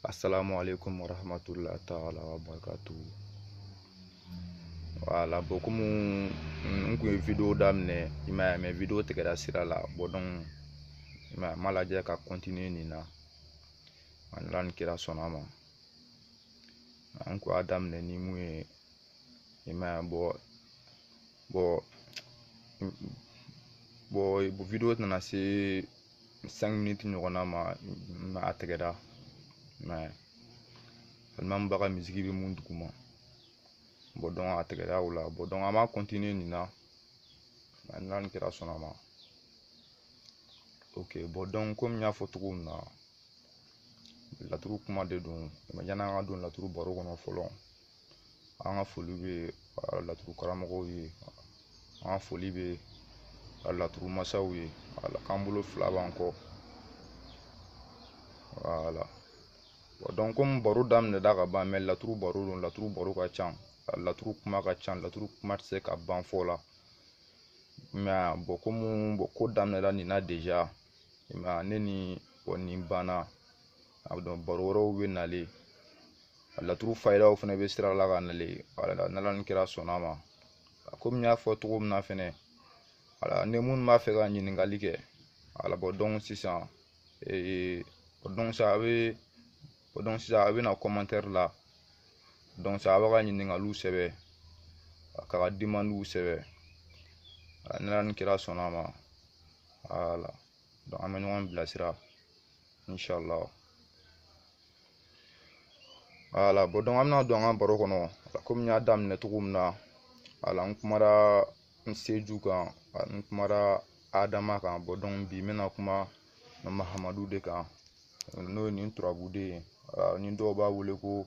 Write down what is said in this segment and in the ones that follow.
assalamu alaikum wa rahmatullahi ta'ala wa barakatu wala bɔn komi n kun ye video daminɛ i ma ye mɛ video tigɛra sira la bɔn donc i ma ye n m'a lajɛ ka continuer nin na n'ala ni kira sɔnna ma an kun y'a daminɛ ni mun ye i ma ye bɔn bɔn bɔn video tɛna se sɛnki miniti ɲɔgɔnna ma mɛ a tɛgɛra mɛ alimami ba ka misiki bɛ mun duguma bɔn dɔn a tɛgɛra o la bɔn dɔn an b'a kɔntiniye nin na mɛ n'ala ni kira sɔnna ma ok bɔn dɔn komi n y'a fɔ cogo min na laturu kuma de don mɛ yan'an ka don laturu baro kɔnɔ fɔlɔ an ka foli bɛ laturu karamɔgɔw ye an ka foli bɛ laturu masaw ye wala an bolo fila b'an kɔ wala dɔn komi baro daminɛda ka ban mɛ laturu baro don laturu baro ka ca laturu kuma ka ca laturu kuma tɛ se ka ban fɔ la mɛ bɔn komi bɔn ko daminɛda nin na deja mɛ ne ni bɔn nin banna a bɛ dɔn baro wɛrɛw bɛ nalen a laturu fayidaw fana bɛ sira la ka nalen wala n'ala ni kira sɔnna ma a komi n y'a fɔ cogo min na fɛnɛ wala ni minnu b'a fɛ ka ɲininkali kɛ wala bɔn dɔn sisan ee o dɔn sisan a bɛ o dɔn sisan a bɛ na kɔmantɛri la dɔn sisan a b'a ka ɲininkaliw sɛbɛn a k'a ka dimandiw sɛbɛn n'ala ni kira sɔnna ma wala an bɛ ɲɔgɔn bilasira incha allah wala bɔn dɔnku an bɛna don an ka baro kɔnɔ komi n y'a daminɛ cogo min na wala n kumara n seju kan n kumara adama kan bɔn dɔnku bi n bɛna kuma mahamadu de kan n'o ye nin turabuden ye wala ni dɔw b'a wele ko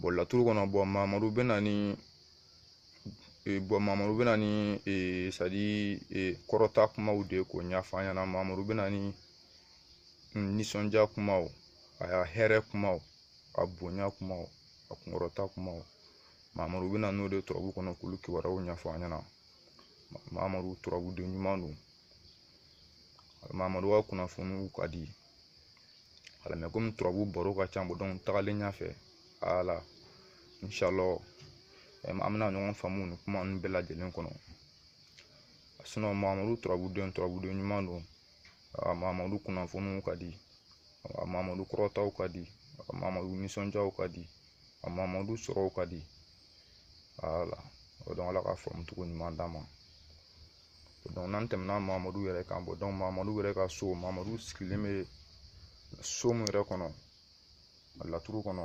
bɔn laturu kɔnɔ bɔn mamadu bɛ na ni eh, bɔn mamadu bɛ na ni eh, sadi eh, kɔrɔta kumaw de k'o ɲɛfɔ an ɲɛna mamadu bɛ na ni mm, nisɔndiya kumaw a hɛrɛ kumaw a bonya kumaw a kunkɔrɔta kumaw mamadu bɛ na n'o de turabu kɔnɔ k'olu kibaruyaw ɲɛfɔ an ɲɛna mamadu turabuden ɲuman don wala mamadu ka kunnafoniw ka di wala mɛ komi turabu baro ka ca bɔn dɔn tagalen ɲɛfɛ ala inshallah an bɛna ɲɔgɔn faamu nin kuma ninnu bɛɛ lajɛlen kɔnɔ sinɔn mamadu turabuden turabuden ɲuman don mamadu kunnafoniw ka di mamadu kɔrɔtaw ka di mamadu nisɔndiyaw ka di mamadu sɔrɔw ka di wala o dɔn ala ka faamu cogo ɲuman d'a ma dɔnku n'an tɛmɛna mamadu yɛrɛ kan bɔn dɔnku mamadu yɛrɛ ka so mamadu sigilen bɛ so min yɛrɛ kɔnɔ a laturu kɔnɔ